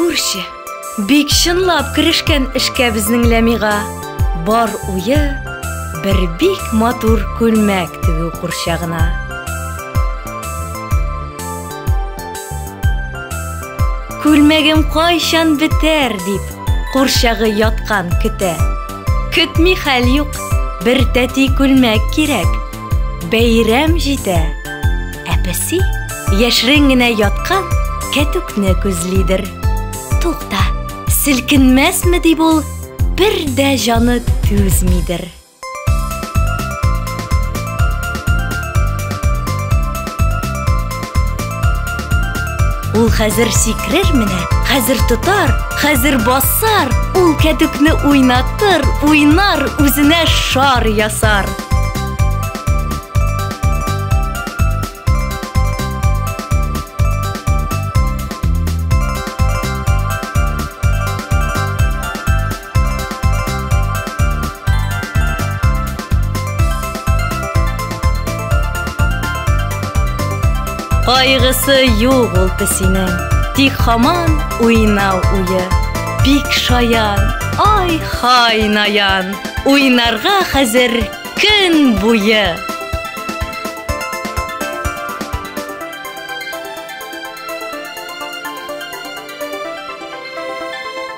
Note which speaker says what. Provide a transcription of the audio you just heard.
Speaker 1: Күрше, бик чынлап керешкән эшкә безнең Ләмига. Бар уе бер бик матур күлмәк тегү курчагына. Күлмәгем кайчан бетәр дип Курчагы яткан көтә. Көтми хәл юк, бер тәти күлмәк кирәк. Бәйрәм җитә. Ә песи яшерен генә яткан кәтүкне күзлидер. Тукта, селкенмәсме дип ул бер дә җаны түзмидер. Ул хәзер сикрер менә, хәзер тотар, хәзер басар, ул кәтүкне уйнатыр, уйнар, үзенә шар ясар. Кайгысы юк ул песинең, тик хаман уйнау уе. Бик шаян, ай хай наян, уйнарга хәзер көн буе.